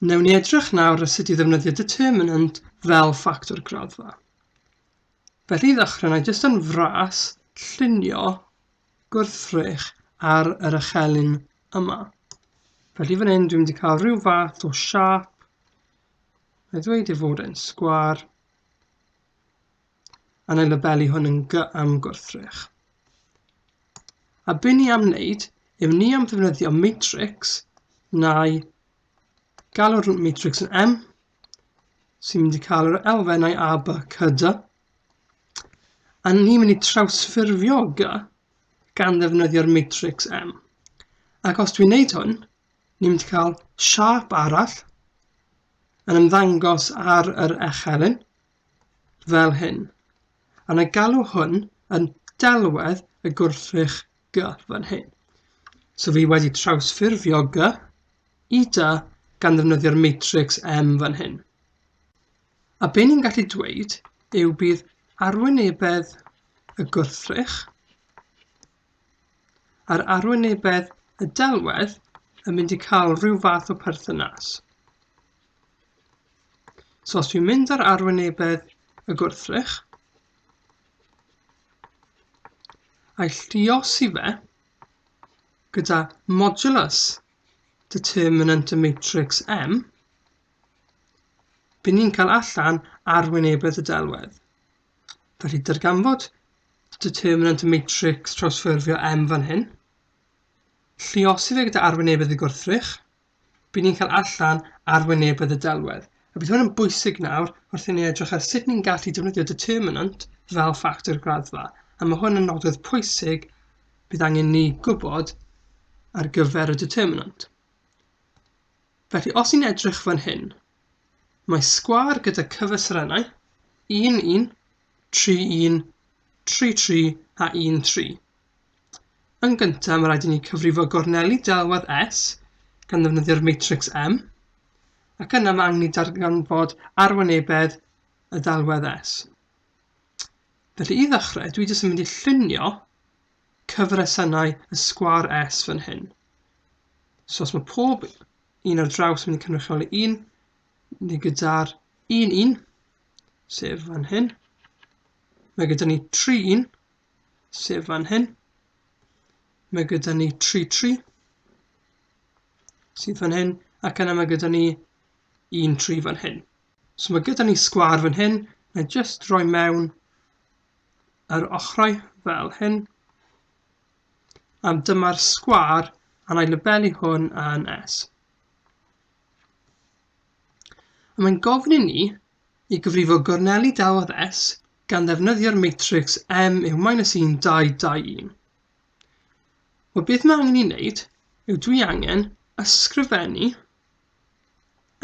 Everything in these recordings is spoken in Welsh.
Newn ni edrych nawr ar sut i ddefnyddio determinant fel ffactor graddfa. Felly i ddechrau, na i jyst yn fras llunio gwrthrych ar yr ychelyn yma. Felly fan hyn dwi'n wedi cael rhyw fath o siap. Mae ddweud ei fod e'n sgwar. a na i labelu hwn yn gy am gwrthrych. A byn ni am wneud, yw ni am ddefnyddio matrix neu galw'r matrix yn M, sy'n mynd i cael yr elfennau A, B, C, D, a ni'n mynd i trawsffurfio G gan ddefnyddio'r matrix M. Ac os dwi'n neud hwn, ni'n mynd i cael siap arall yn ymddangos ar yr echelin, fel hyn, a na galw hwn yn delwedd y gwrthrych gy fan hyn. So fi wedi trawsffurfio gy i dy gan ddefnyddio'r matrix M fan hyn. A be ni'n gallu dweud yw bydd arwynebedd y gwrthrych Yr arwynebedd y delwedd yn mynd i cael rhyw fath o perthynas. So os dwi'n mynd ar arwynebedd y gwrthrych, a'i lliosi fe gyda modulus determinant y matrix M, bydd ni'n cael allan arwynebedd y delwedd. Felly, darganfod determinant matrix trawsffurfio M fan hyn. Lliosi fe gyda arwynebedd y gwrthrych. Bydd ni'n cael allan arwynebedd y delwedd. A bydd hwn yn bwysig nawr wrth i ni edrych ar sut ni'n gallu defnyddio determinant fel ffactor graddfa. A mae hwn yn nodwedd pwysig bydd angen ni gwybod ar gyfer y determinant. Felly, os ni'n edrych fan hyn, Mae sgwâr gyda cyfestrennau 1, 1, 3, 1, 3, 3 a 1, 3. Yn gyntaf, mae rhaid i ni cyfrifo gorneli delwedd S gan ddefnyddio'r matrix M, ac yna mae angen i darganfod arwynebedd y delwedd S. Felly i ddechrau, dwi jyst yn mynd i llunio cyfresennau y sgwâr S fan hyn. So os mae pob un ar draws mynd i cynrychioli un, ni gyda'r un un, sef fan hyn. Mae gyda ni tri un, sef fan hyn. Mae gyda ni tri tri, sydd fan hyn, ac yna mae gyda ni un tri fan hyn. So mae gyda ni sgwar fan hyn, na jyst roi mewn yr ochrau fel hyn, Yym, dyma'r sgwâr a wna i labelu hwn yn S. A mae'n gofyn i ni i gyfrifo gorneli dawedd S gan ddefnyddio'r matrix M yw minus 1, 2, 2, 1. Wel, beth mae angen i wneud yw dwi angen ysgrifennu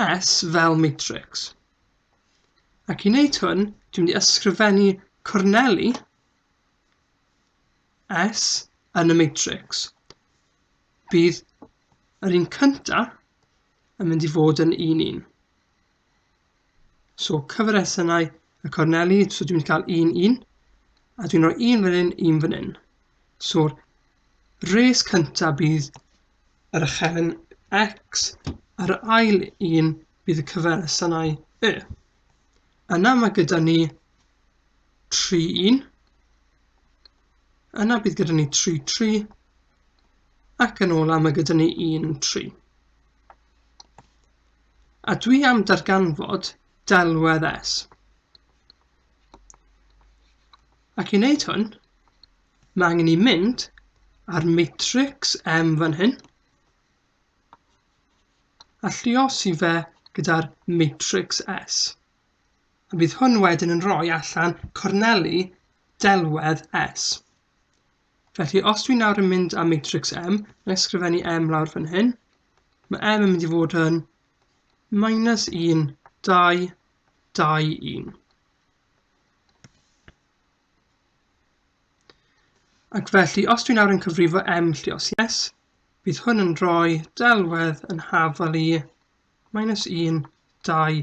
S fel matrix. Ac i wneud hwn, dwi'n mynd i ysgrifennu corneli S yn y matrix, bydd yr un cyntaf yn mynd i fod yn un un. So cyfresennau y corneli, so dwi'n cael un un, a dwi'n rhoi un fan hyn, un fan hyn. So'r res cyntaf bydd yr ychefn x, a'r ail un bydd y cyfresennau y. Yna mae gyda ni tri un. Yna bydd gyda ni tri tri. Ac yn ola mae gyda ni un tri. A dwi am darganfod delwedd S. Ac i wneud hwn, mae angen i mynd a'r matrix M fan hyn, a lliosi fe gyda'r matrix S. Bydd hwn wedyn yn rhoi allan corneli delwedd S. Felly, os dwi'n nawr yn mynd â matrix M, mae'n ysgrifennu M lawr fan hyn, mae M yn mynd i fod yn minus 1, 2, 2, 1. Ac felly, os dwi'n nawr yn cyfrifo M llios yes, bydd hwn yn rhoi delwedd yn hafal i minus 1, 2,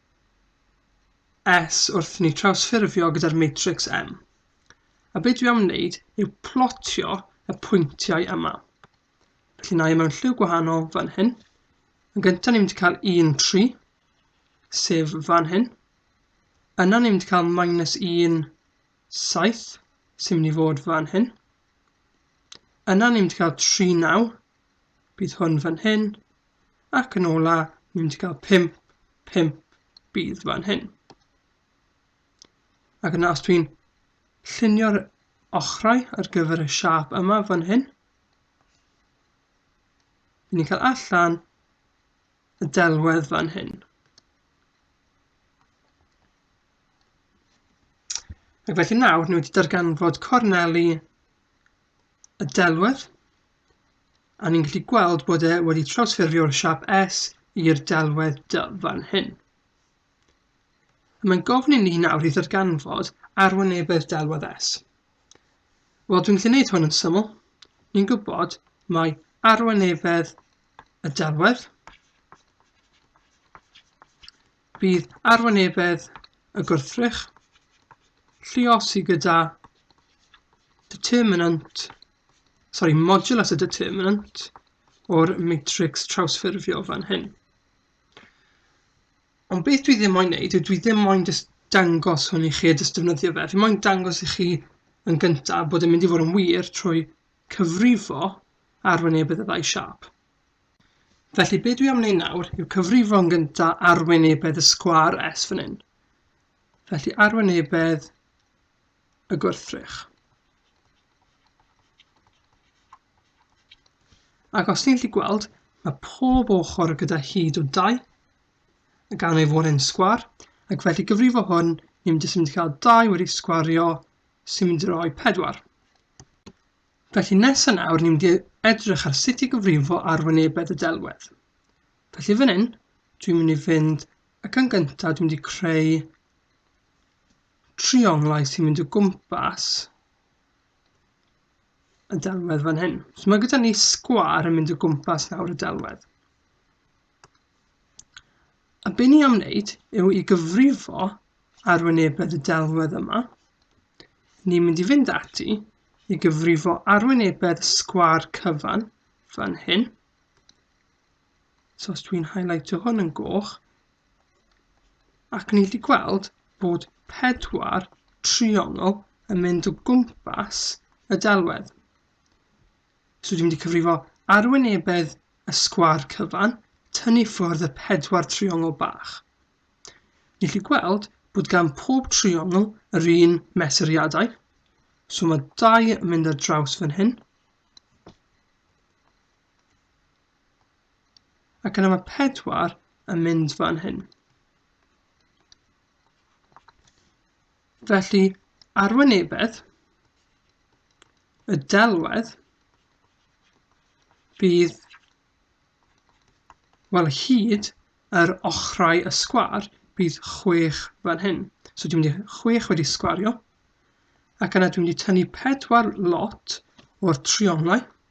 S wrth ni trawsffurfio gyda'r matrics M. A be dwi am wneud yw plotio y pwyntiau yma. Felly na i mewn lliw gwahanol fan hyn. Yn gyntaf ni'n mynd i cael 1, 3, sef fan hyn. Yna ni'n mynd i cael minus 1, 7, sy'n mynd i fod fan hyn. Yna ni'n mynd i cael 3, 9, bydd hwn fan hyn, ac yn ola, ni'n mynd i gael 5, 5 bydd fan hyn. Ac yna os dwi'n llunio'r ochrau ar gyfer y siap yma fan hyn, ni'n cael allan y delwedd fan hyn. Ac felly nawr, ni wedi darganfod corneli y delwedd A ni'n gallu gweld bod e wedi trawsffurfio'r siap S i'r delwedd dy fan hyn. Mae'n gofyn i ni nawr i ddarganfod arwynebedd delwedd S. Wel, dwi'n gallu gwneud hwn yn syml. Ni'n gwybod mae arwynebedd y delwedd bydd arwynebedd y gwrthrych lluosi gyda determinant sori, modulus y determinant o'r matrix trawsffurfio fan hyn. Ond beth dwi ddim moyn neud yw dwi ddim moyn just dangos hwn i chi a just defnyddio fe. Fi moyn dangos i chi yn gyntaf bod yn mynd i fod yn wir trwy cyfrifo arwynebydd y ddau siap. Felly be dwi am wneud nawr yw cyfrifo yn gynta arwynebedd y sgwar S fan hyn. Felly arwynebedd y gwrthrych. Ac os ti'n gallu gweld, mae pob ochr gyda hyd o dau, gan ei fod yn sgwar, ac felly gyfrifo hwn, ni'n jyst yn cael dau wedi sgwario sy'n mynd i roi pedwar. Felly nes yna, nawr ni'n mynd edrych ar sut i gyfrifo ar wynebedd y delwedd. Felly fan hyn, dwi'n mynd i fynd ac yn gyntaf dwi'n mynd i creu trionglais i fynd o gwmpas y delwedd fan hyn. So mae gyda ni sgwar yn mynd o gwmpas nawr y delwedd. A be ni am wneud yw i gyfrifo arwynebedd y delwedd yma. Ni'n mynd i fynd ati i gyfrifo arwynebedd sgwar cyfan fan hyn. So os dwi'n highlightio hwn yn goch, ac ni wedi gweld bod pedwar triongl yn mynd o gwmpas y delwedd. So dwi'n mynd i cyfrifo arwynebedd y sgwar cyfan, tynnu ffwrdd y pedwar triongl bach. Ni chi gweld bod gan pob triongl yr un mesuriadau. So mae dau yn mynd ar draws fan hyn. Ac yna mae pedwar yn mynd fan hyn. Felly, arwynebedd y delwedd bydd, wel, hyd yr ochrau y sgwar bydd chwech fan hyn. So dwi'n mynd i chwech wedi sgwario, ac yna dwi'n mynd i tynnu pedwar lot o'r trionglau,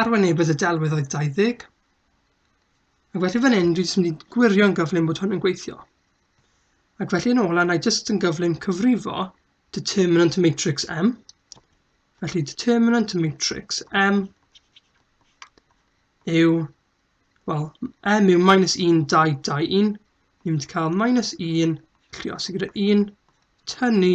Arwynebedd y delwedd oedd 20. Ac felly fan hyn, dwi'n mynd i gwirio'n gyflym bod hwn yn gweithio. Ac felly yn ola, na i jyst yn gyflym cyfrifo determinant matrix M. Felly determinant matrix M yw, wel, M yw minus 1, 2, 2, 1. Ni'n mynd i cael minus 1, llios i gyda 1, tynnu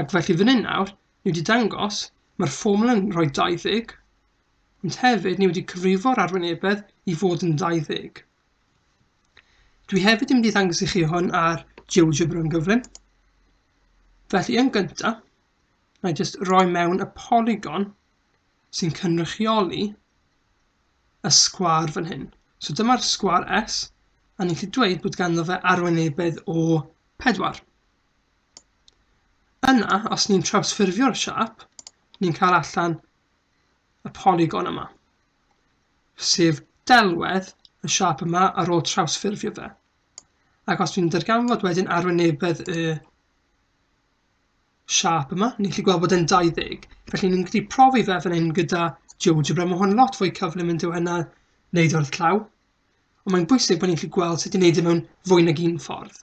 Ac felly fan hyn nawr, ni wedi dangos, mae'r ffoml yn rhoi 20, ond hefyd ni wedi cyfrifo'r arwynebedd i fod yn 20. Dwi hefyd yn mynd i ddangos i chi hwn ar GeoGebra yn gyflym. Felly yn gyntaf, na i jyst roi mewn y polygon sy'n cynrychioli y sgwar fan hyn. So dyma'r sgwar S, a ni'n gallu dweud bod ganddo fe arwynebedd o 4. Yna, os ni'n trawsffurfio'r siâp, ni'n cael allan y polygon yma, sef delwedd y siâp yma ar ôl trawsffurfio fe. Ac os dwi'n darganfod wedyn arwynebedd y siâp yma, ni'n gallu gweld bod e'n 20. Felly ni'n gallu profi fe fan hyn gyda GeoGebra. Mae hwn lot fwy cyflym yn dweud yna wneud o'r llaw. Ond mae'n bwysig bod ni'n gallu gweld sut i wneud e mewn fwy nag un ffordd.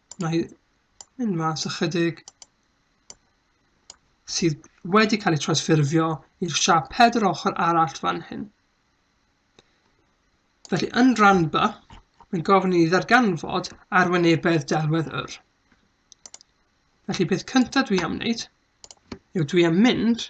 Mae yn mas ychydig sydd wedi cael ei transffurfio i'r siap pedr ochr arall fan hyn. Felly, yn rhan B, mae'n gofyn i ddarganfod arwynebedd delwedd yr. Felly, peth cyntaf dwi am wneud yw dwi am mynd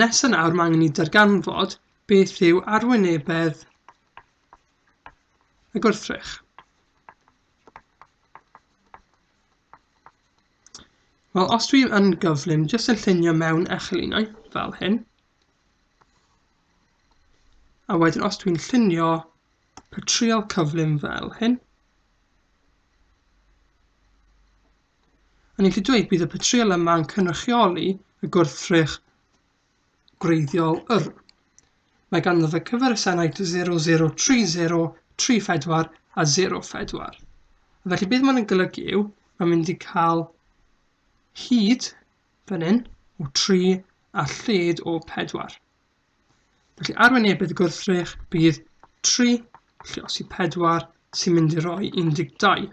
Nes yn awr mae angen i darganfod beth yw arwynebedd y gwrthrych. Wel, os dwi yn gyflym, jyst yn llunio mewn echelinau, fel hyn. A wedyn, os dwi'n llunio patrial cyflym fel hyn, O'n i'n gallu dweud bydd y patrïol yma yn cynrychioli y gwrthrych gwreiddiol yr. Mae ganddo fe cyferysenau 0030, 34 a 04. Felly beth mae'n golygu yw, mae'n mynd i cael hyd fan hyn o 3 a lled o 4. Felly arwynebedd y gwrthrych bydd 3 lle os i 4 sy'n mynd i roi 12.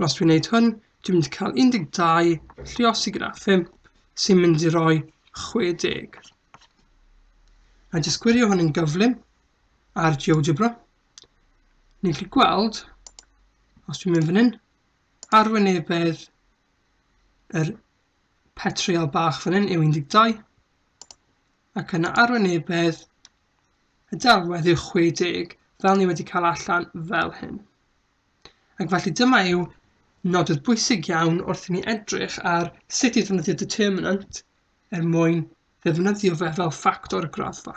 Wel, os dwi'n neud hwn, dwi'n mynd i cael 12 llios i gyda 5 sy'n mynd i roi 60. A jyst gwirio hwn yn gyflym ar GeoGebra. Ni'n gallu gweld, os dwi'n mynd fan hyn, arwynebedd yr petriol bach fan hyn yw 12 ac yna arwynebedd y delwedd yw 60 fel ni wedi cael allan fel hyn. Ac felly dyma yw nodydd bwysig iawn wrth i ni edrych ar sut i ddefnyddio determinant er mwyn ddefnyddio fe fel ffactor y graddfa.